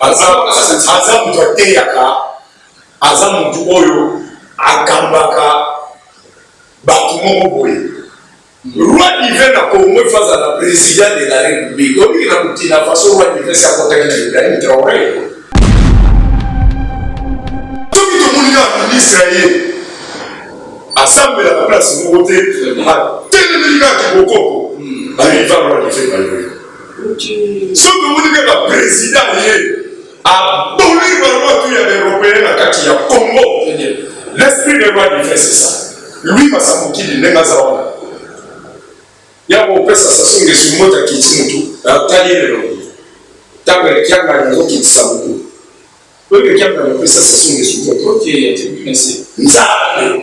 aza aza moto ateyaka aza moto oyo akambaka bato moko boye roi divin na congo efa azala président de la république obiki na burkina faso roi divin si akotaki na ibrahim traore soki tomoni na ministre ya ye asambelaka place moko te atelemeli kaka kibokoko bayiva roi divin bayoyo soki omoni mpe baprezida ye aboli balwatu ya baeuropeen na kati ya congo l'esprit de loi du fait c'est ça lui masamokili ndenge aza wana ya kopesa sasu ngesu moto akiti motu atali lelo ntango ya kiangani azokitisa motu oyo kiangani opesa sasu ngesu moto nzambe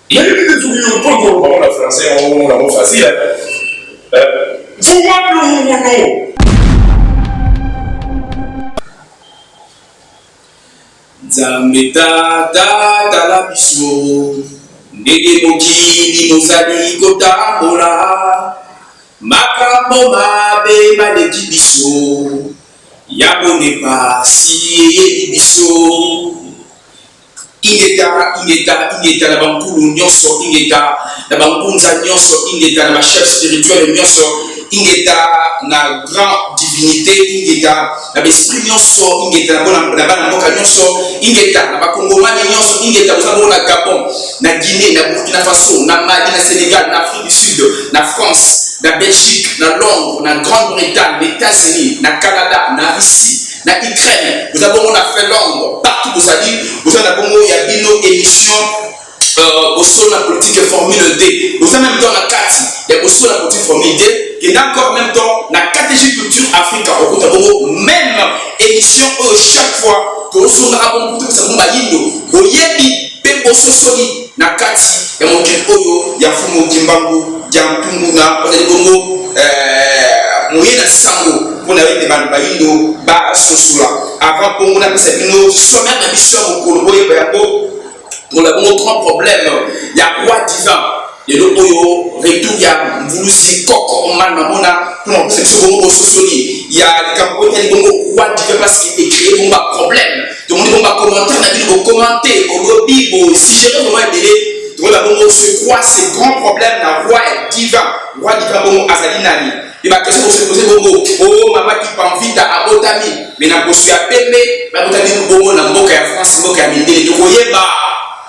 Nayebi te soki yo mpo toloba ngo na français yango omona ngo facile eh? Mvuma Lungulu Nzambe tata tala biso ndenge mokili mozali kotambola makambo mabe maleki biso yango nde pasi eyebi biso Ingeta, ingeta, ingeta na bankulu nyonso, ingeta na bangunza nyonso, ingeta na bachef spirituel nyonso, ingeta na grand divinité, ingeta na baesprit nyonso, ingeta na bona na bana mboka nyonso, ingeta na bakongomani nyonso, ingeta boza bongo na Gabon, na Guinée, na Burkina Faso, na Mali, na Sénégal, na Afrique du Sud, na France, na Belgique, na Londres, na Grande-Bretagne, na Etats-Unis, na Canada, na Russie, na Ukraine boza bongo na Finlande partout bozali boza na bongo ya bino émission euh, bosolo na politique formule d boza même temps na kati ya bosolo na politique formule d kenda encore même temps na KTG culture africa okota bongo même émission oyo chaque fois toosongaka bongo kutu bisango bayindo boyebi mpe bososoli na kati ya mokili oyo ya mfumu kimbangu ya mpunguna ozali bongo eh, moye na sango mpo na ete bato bayindo basosola avant bongo napesa bino sommaire na biso ya mokolo boyeba yango tola bongo grand problème ya roi divin lelo oyo retour ya mvuluzi koko mani mamona mpo na kopesa biso bongo bososoli ya likambo oyo etali bongo roi divin parce que ecree bongo baproblème tomoni bongo bacommentaire na bino bokomante bolobi bosigere vraimen ebele tokola bongo ce quoi ce grand problème na roi ya diva roi diva bongo azali nani e baquestion bosepose bongo o oh, mama kipanvita abotami me na boso ya pembe babotami bongo na mboka ya france mboka ya mindele tokoyeba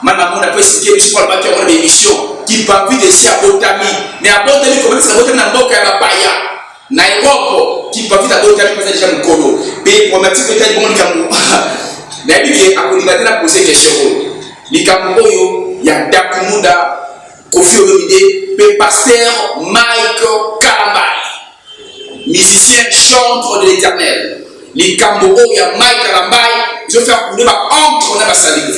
mama mona mpe esike biso mpo alobaki yango na baémission kipanvita esi abotami me abotami kobebisa abotami na mboka ya bapaya Na Europe, ki Covid a botami mpenza deja mokolo. Mpe programmatique etali bongo likambo nayebi ke akondima te na pose question oyo. Likambo oyo ya Dakumuda, Koffi Olomide mpe Pasteur Mike Kalambay, musicien chantre de l'Eternel. Likambo oyo ya Mike Kalambay ezo faire couler ba encre na ba salive.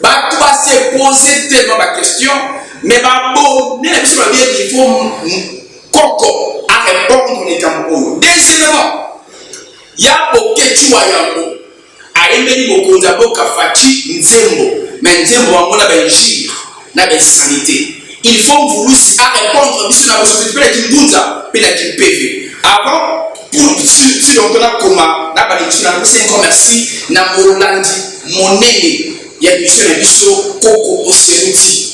Bato ba se poser tellement ba questions, mais ba abonne na biso babiye qu'il faut Koko a repondre likambo oyo. Deuxièmement, ya Boketshu wa yambo ayembeli mokonzi ya boka Fatshi nzembo, mais nzembo yango na ba injure na ba insanite. Il faut Mvulusi a repondre biso na bosoto mpe na Kimbunza mpe na Kimpeve. Avant pour si donc na koma na ba lecture na pesi encore merci na molandi monene ya mission na biso Koko Oseruti.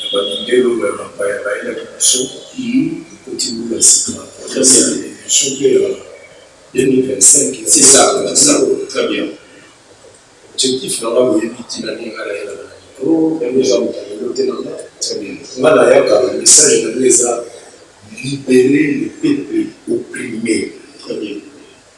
ya ba mindele oyo ya bapaya bayelaki biso ekoti mbula ya sika na projet ya emission pe ya 2025 ya objectif na nga boyebi tina nini nga nayelaka na micro yango eza moto ya lelo te na nga nayaka na message na nga eza libere le peuple opprime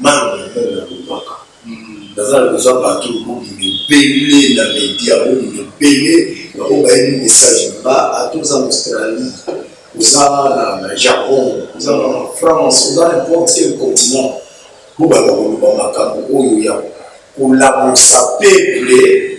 Maman ya nani na lobaka naza na besoin bato bobima ebele na media bobima ebele bango bayebi message ba ata oza na australie oza na japon oza na france oza na importe quel continent bobanda koloba makambo oyo ya kolamusa peuple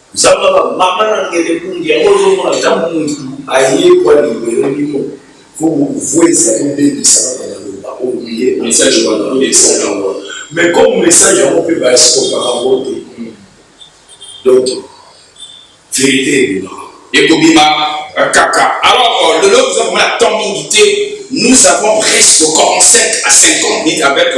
Zamba ba mama na ngele kundi yango ozomona ntango mutu ayekwa libere bino fo bokuvueza bobebisa kaka maloba olie message wana oyebisa yango wana mais comme message yango mpe baeskopaka yango te donc verité ebimaka ekobima kaka alors lelo oza komona temps mingi te nous avons presque 45 à 50 minutes avec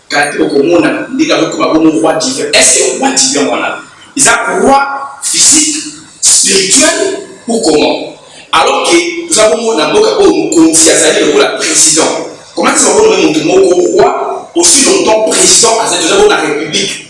Car okomona ndenge akokoma bongo roi divin. Est-ce que roi divin wana eza roi physique, spirituel ou comment? Alors que toza bongo na mboka oyo mokonzi azali lokola president. Comment est-ce que okomona moto moko roi aussi longtemps president azali toza bongo na republique?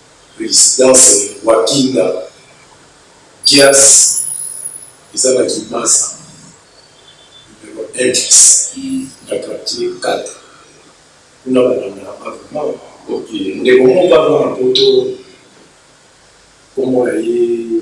Residence Wakinga Dias eza na Kinmasa numero Edges na quartier Kata kuna ba landaka nga vraiment. Ok ndeko moko aza na poto kombo na ye.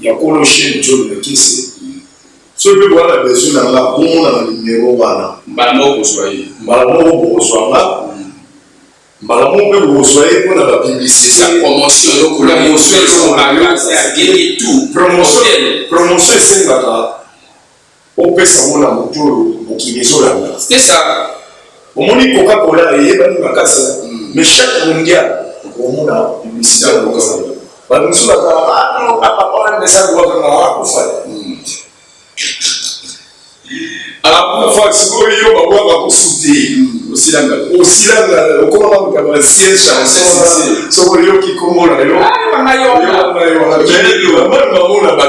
Ya kolo chaine John Lekese soki pe boza na besoin na nga bomona na numero wana mbala moko kozwa ye mbala moko bokozwa nga mbala moko pe bokozwa ye mpo na ba publicité ya promotion lokola promotion esengaka Bopesa yango na moto oyo mokili ezolanda. C'était ça. Omoni Coca-Cola eyebani makasi hein. Mais chaque mondial okomona publicité ya Coca-Cola. Ba misusu ba kala ah non ah papa wana message wa vraiment akufa. Akufa sikoyo yo ba bwa ba kusuti. Osilanga osilanga okoma ba mutaba na ciel chanson soko yo kikomona yo. Ah yo na yo. Yo na yo. Jene yo ba mwana ba mona ba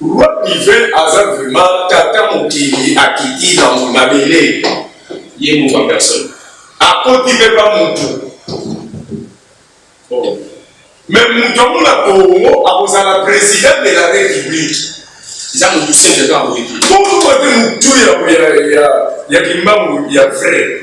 Roi divin aza vraiment tata mokili akiti na mabele ye moko en personne akoti mpe ba mutu oh. me mutu yango na Congo akozala president de la republique eza mutu sembe kaka boye te mutu ya kimbangu ya vrai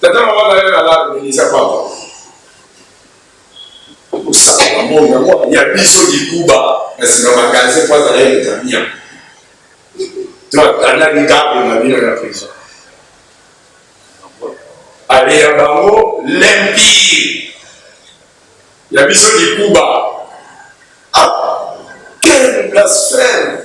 Tata na mama nayo nalala melisa papa. Osaka na moni yango ya biso likuba na sima magasin po azala ye tamia. To atanda likambo na bino na prison. Ale ya bango l'empire ya biso likuba. Ah, quel blasphème!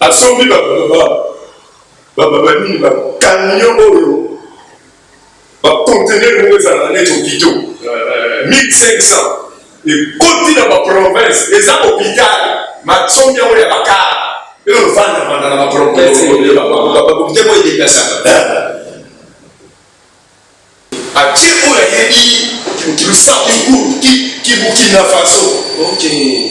Asombi ba baba ba baba nini ba camion oyo ba conteneur moko ezala na neti hopitaux 1500 ekoti na ba province eza hopital masombi yango ya bakara elo vanda vanda na ba province bakokite mpo edeplasaka atie oyo ayebi lusaku kibukina faso okay.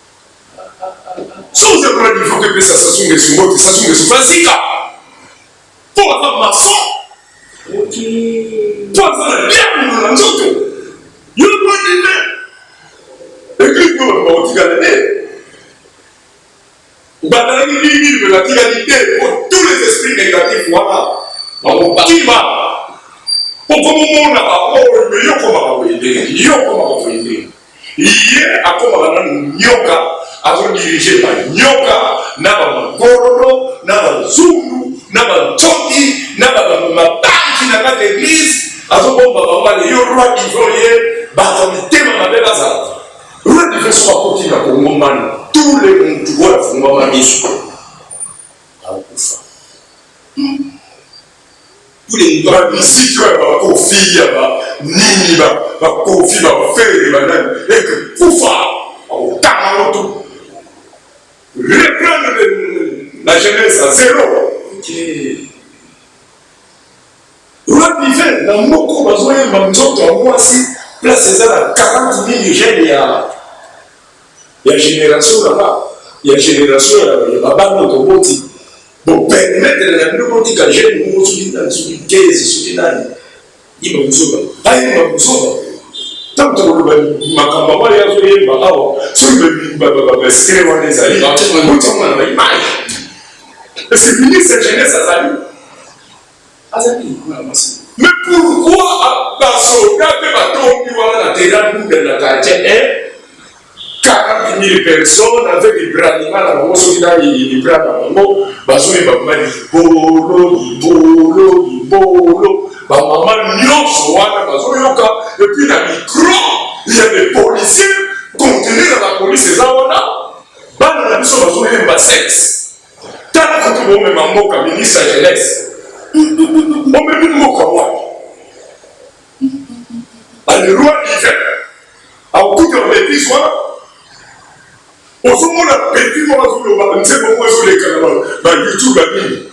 Soki oza kuna niveau que pesa Sassou Nguesso mbote, Sassou Nguesso fa zika. Po aza maçon. Okay. Po aza na diable na nzoto. Yo pas d'humain. Et puis pour le politique à l'année. Bazalaki mingi mpe batikaki te mpo tous les esprits négatifs wana bakokima okomomona baoyo me yo okomaka boye ndenge yo okomaka boye ndenge ye akomaka nanu nyoka azodirige banyoka na bamagororo na bazungu na bancoki na bamabanki na kati eglise azobomba bango bale yo roi ivorie bato mitema mabe bazala Rwanda ifo soki akoti na Kongo mbano tous les mutu oyo afungwama miso akufa bamiziki oyo bakofi ya banini bakofi bafere banani eke kufa akotanga moto reprendre la jeunesse à zero okay. Roi Divin na moko bazoyemba nzoto ya mwasi place eza na 40 mille jeunes ya ya generation na ba ya generation ya babana oyo toboti bopermetre na bino botika jeune moko soki nani soki 15 soki nani yeba buzoba bayeba buzoba ntango tokoloba makambo yango ya koyemba awa soki babastre wana ezali botiamana na image parce que ministre ya jeunesse azali azalaki likolo ya mwasi mais pourquoi basoda mpe batombi wana na terrain buda na quartier 1 40 000 personnes avec libranima na bango soki na libra na bango bazoyeba ma libolo libolo libolo bamama nyonso wana bazoyoka epuis na micro ya de policier continue na bapolice eza wana bana na biso bazoyemba sexe Tala kutu bomema mboka ministre ya jeunesse. Bomemi mboka wapi? Baleroy Ivan akuti na betize wana ozomona petit moko azoloba nzembo moko ezoleka na ba youtube ya nini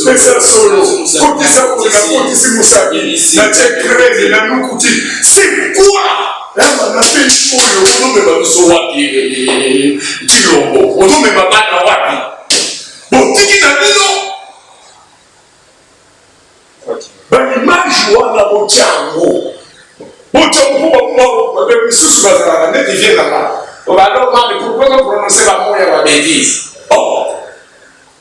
pesa solo kotisa kotisa mosaki na tie creme na nukuti c'est quoi Eva na pe oyo ozomema biso wapi? Tshilombo ozomema bana wapi? Botiki na bino baimage wana botya yango botya mpo bababe misusu bazalaka neti vie nanga obaloka mikukono prononce bamoya babetise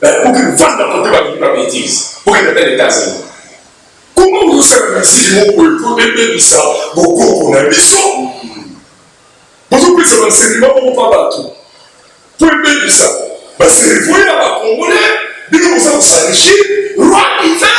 bakoki kofanda kote balingi ba betise okende ata na etats-unis koma ozosala misiki moko epo ebebisa bokoko na biso bozopesa bansenema moko mpa bato mpo ebebisa baservo ya bakongole bino boza kosalishi roi hiver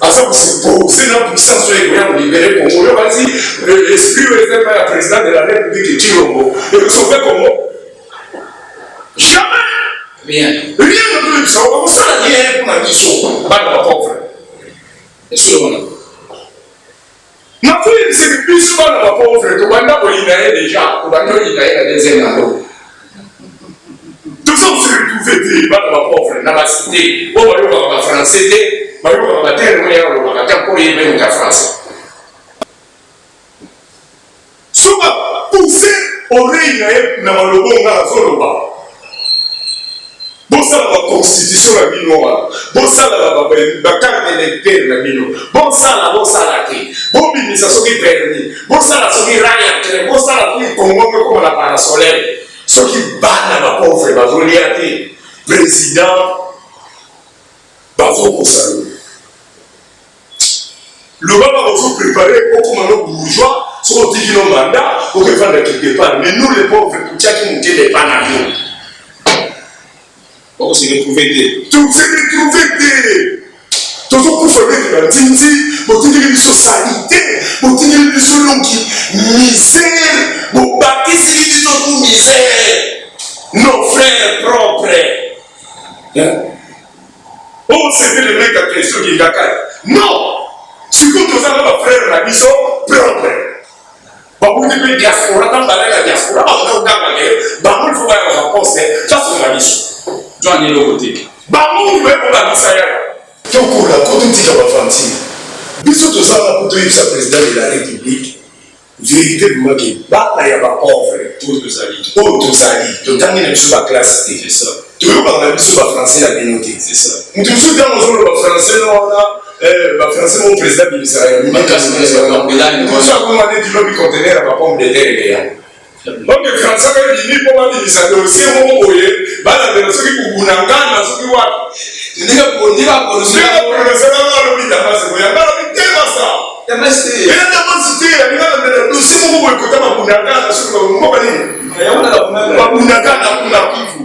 aza kosepose na puissance oyo ekoya kolibere kongo oyo bati esprit oyo eza epai ya président de la république cilombo ekosauve kongo jamais rien rien ne peut bisa bakosala rien mpona biso bana bapauvre esoyo wana Na feeling c'est que biso bana ba pauvre to banda ko yina ye deja to banda ko yina ye na deuxième na to tozo se retrouver te bana ba pauvre na ba cité o ba yoka ba français te ba yoka ba terme ya ko ba ta ko ye ba français Soki ba pousser oreille na ye na maloba oyo ngai nazoloba, bosala ba constitution na bino wana, bosala ba ba ba carte d'identité na bino, bosala bosala te, bobimisa soki permis, bosala soki rail ya train, bosala soki Congo mpe ekoma na parasolaire, soki bana ba pauvre bazolia te, president bazokosana loba bakozo prepare okoma no bourgeois soki otiki no manda okefanda quelque part mais nous les pauvres totiaki motema epa na yo bakose retrouve te toze retrouve te tozokufa ndenge banzinzi botindeli biso salite botindeli biso longi misère bobakisi biso tu misère nos frères propres hein? Oh, c'était le mec à question qui est Non Surtout que ça, nos frères, la mission propre. babundi mpe diaspora ntango balai na diaspora bakoki koganga ke bango lifo baya na baposte tasunga biso jwani eloko te bango moto baye kobangisa yaya tokola ko totika bafantina biso tozanga mpo toyebisa président de la république Verite vraiment que bana ya ba pauvre oyo tozali oyo tozali totangi na biso ba classe te c'est ça toyokaka na biso ba français ya bino te c'est ça mutu mosusu ntango ozoloba français na wana eh, ba français mo président bimisaka ya mimakaakoma neti lobi contener ya ba pomme de terre eya donc français mpe bimi mpo babimisa dossier moko boye balandela soki kuguna ngana soki wapi ndenge boni bapronoseaa alobi damasi boye yango alobi te basa ena damasi te alinga landela dossier moko boye kota babunda ngana soki babunda nini babunda ngana kuna kivu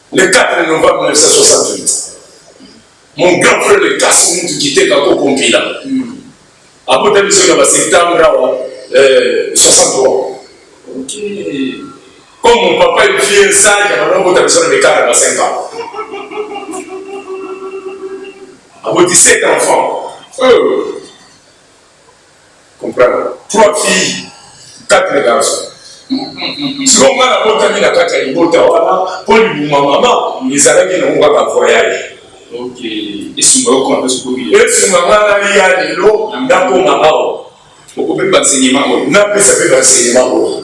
Le 4 novembre 1968, mon grand frère le Kassim Mutu Kiteka Koko Mpila abota biso na ba septembre awa 63. Okay. Comme mon papa est vieux sage, abanda kobota biso na mikala na ba 5 ans. Aboti 7 enfants. Euh. comprendre trois filles quatre garçons siko nga nabotami na kati ya libota wana mpo libuma mama ezalaki nango kaka voyage esunga yo kona sokoki esunga nga naliya lelo nakoma awa okopesa enseignement oyo napesa mpe baenseignement oyo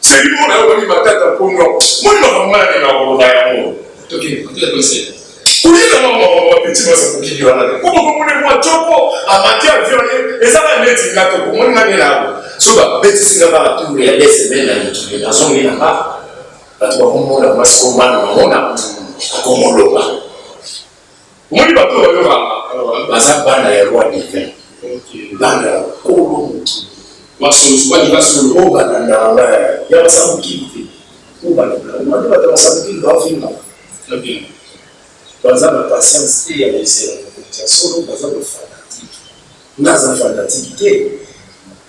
Seki mona yo bani matata mponyo moni makambo ngai alinga koloba yango oyeba mama bapeti baza kokiki wana te koko komona mwa toko amati avion ye ezaka neti nga toko moni ngai nelago so babetisi nga baka tour ya deux semaine na mikili nazongi na nga bato bakomona mwasi komana mamona akomoloba Omoni bato oyo bayokaka baza bana ya roi divin, bana ya kolo mokili masolosu bani basolo oyo balandaka ya basamokili te oyo balandaka bato basamokili bafingaka baza na patience te ya kosela mokonzi ya solo baza bafanatike naza fanatike te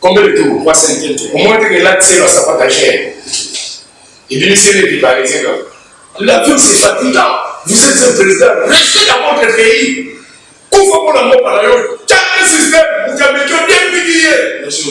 Combien de tours? 3 5 tours. Omoni ndenge elati se ba sapata gene. Ebimisi nde bibalise kaka. L'avion c'est fatigant. Vous êtes un président, restez dans votre pays. Kufa mpo na mboka na yo. Change système, mokambi to depiki ye. Merci.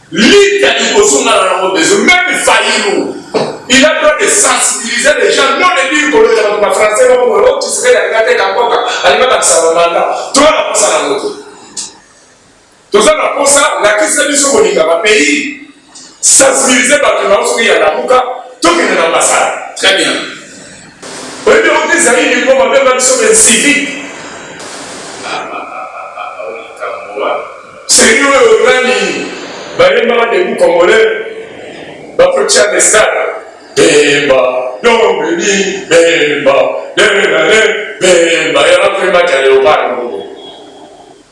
Lita liboso nga na nango besoin meme Fayulu il a droit de sensibiliser les gens non de dire kolo ya ba français ba ko lo tisere ya ngate ka mboka alinga ba sala manda to na kosa na moto toza na kosa lakisa biso kolinga ba pays sensibiliser bato na oso ya lamuka tokende na ambasade très bien Oyebi yango te Zaïre mpo babenga biso ba incivique. Seigneur oyo nani bayembaka debu congolais bakotia na stade bemba dombeli bemba lelelale bemba ya bapemba ja leopard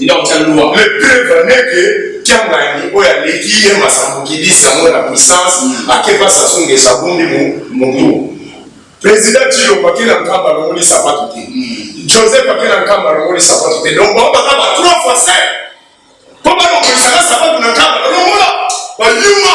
Ila kotya loi. Mais preuve n'est que Kiangani oyo aleki ye masambukidi sango na puissance akeba Sassou Nguesso abundi mutu. Président Tshilombo ake na Nkamba alongoli sapato te. Joseph ake na Nkamba alongoli sapato te. Donc bango baza ba trois fois cinq. Mpo balongolisaka sapato na Nkamba balongola bayuma.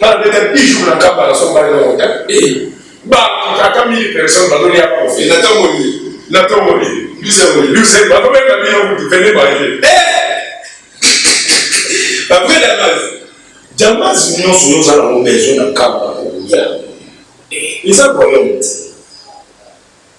na beta bijou na kamba na somba le rota eh ba kaka mille personnes ba doni ya profi na tango ni na tango ni bize ni bize ba ko beta bino ku vene ba ye eh après la base jamas nyonso yo za na mo besoin na kamba ko ya eh eza problème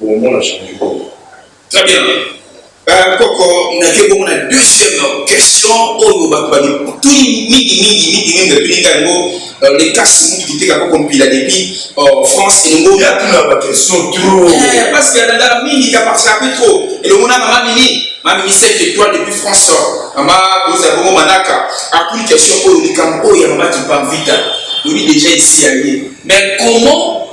Bongo na change bongo. Très bien. Euh, koko nake bongo na deuxième question oyo bato babituni mingi mingi mingi mingi batuninga yango euh, lekasi mutu kiteka koko mpila depuis euh, france elongo yatuna baquestion trop eh, parce que nandala mingi kaparsape trop elongo na mama mini mami misete étoile depuis france mama boza bongo manaka atuni question oyo likambo oyo ya mama kipamvita lobi déjà esi ya ye mais comment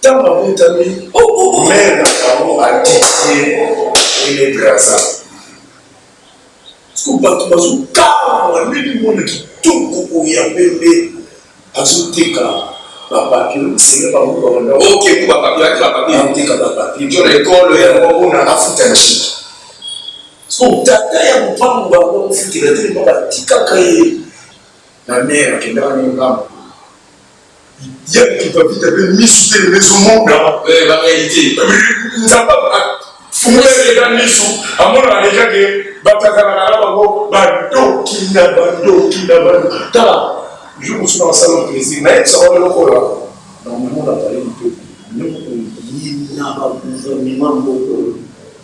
Ntango abotami, mere na bango atiki ye ene Brazza. Siko bato bazokamwa ndenge mwana kitoko oyo ya pembe azoteka bapapie senge bango babanda okeku bapapie ati bapapie ateka bapapie nto na ekolo ya mokona afuta nshiki siko tata ya mopango bango akofutela te mpo batikaka ye na mere akendaka na ngambo yaki bavita mpe misu te ezomona barealité nzambe fungoleleka misu amonaka deja ke bato azalaka na bango badoki na badoki na bado tala jour mosusu na basala plaisir nayebisa bango eloko oyo normalement na palais mpe yina bagouvernement moko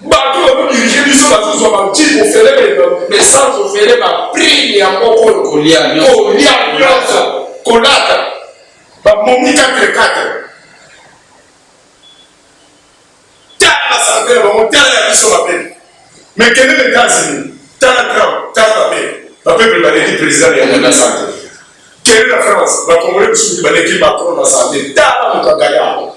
bato oyo badirige biso bazozwa bantiko ofele baessence ofele baprime ya moko oyo kolia nyonso kolata bamomi katrekatre tala basante na bango tala ya biso mabe mekende na etats-unis tala trump tala bape bapeple baleki président ya na sante kende na france bakongole mosusu baleki macron na sante tala moto agaya yango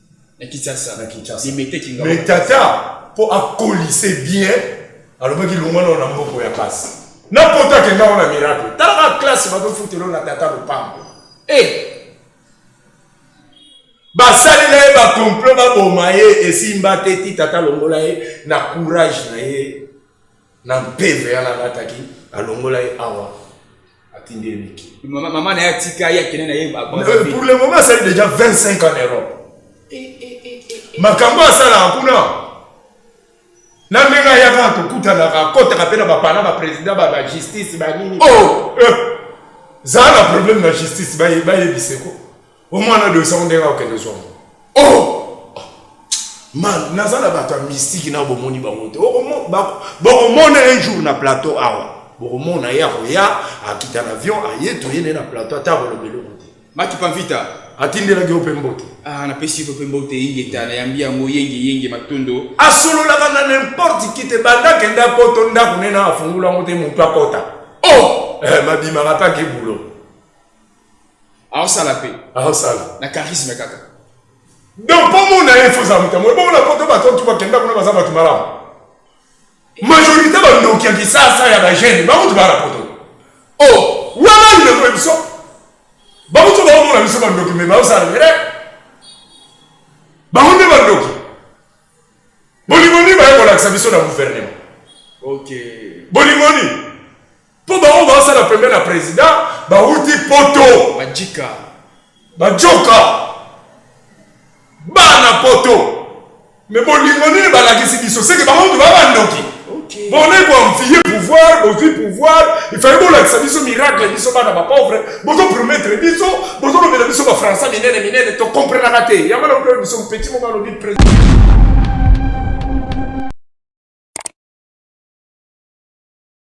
na Kinshasa na Kinshasa Limete Kingawa mais tata mpo akolise bien alobaki longwa nao na mboko ya pasi na poto akenda wana miracle talaka classe bazofutelo na tata lopango e eh! hey! basalela ye bakomplot baboma ye esimba te ti tata longola ye na courage na ye na mpeve yana alataki alongola ye awa atindi ye miki mama na ye atika ye akende na ye euh, pour le moment asali déjà 25 en europe eh, eh, eh, makambo asalaka kuna na ndenge ayaka kokutanaka akotaka mpe na bapana baprésident bajustice banini oh, zala na problème na justice bayebiseko omwana oyo dosango ndenge akokende zwa ngo oh! man naza na bato ya mystike na bomoni bango te bokomona un jour na plateau awa bokomona ye akoya akita na avion aye toye naye na plateau ata akoloba eloko te maki pamvita atindelaki yo mpe mbote ah, napesi yo mpe mbote ingeta nayambi yango yenge yenge matondo asololaka na nimporte ki te banda kenda poto ndako nena afungola yango te motu akota o oh! eh, mabimaka mpe ake bulo aosala mpe aosala na charisme kaka donc mpo mona ye foza moto yango ebongo na poto bato ntu bakenda kuna baza bato malamu majorité bandoki ya kisasa ya bagene bakutu baa na poto o oh, wana ndeko ya biso bakutu baomona biso bandoki me baosala mere bango nde bandoki bolingo nini baye kolakisa biso na gouvernement okay. bolingo nini Po ba oyo ba sala pembeni ya president ba wuti poto. Majika. Ba joka. Bana poto. Mais bolingo nini ba lakisi biso? C'est que ba oyo ba ba ndoki. bone koamfie pouvoir bozwi pouvoir ifali bolakisa biso miracle biso bana bapauvre bozopromettre biso bozolobela biso bafrançais minene minene tokomprenaka te yango na oyo biso petit moko alobi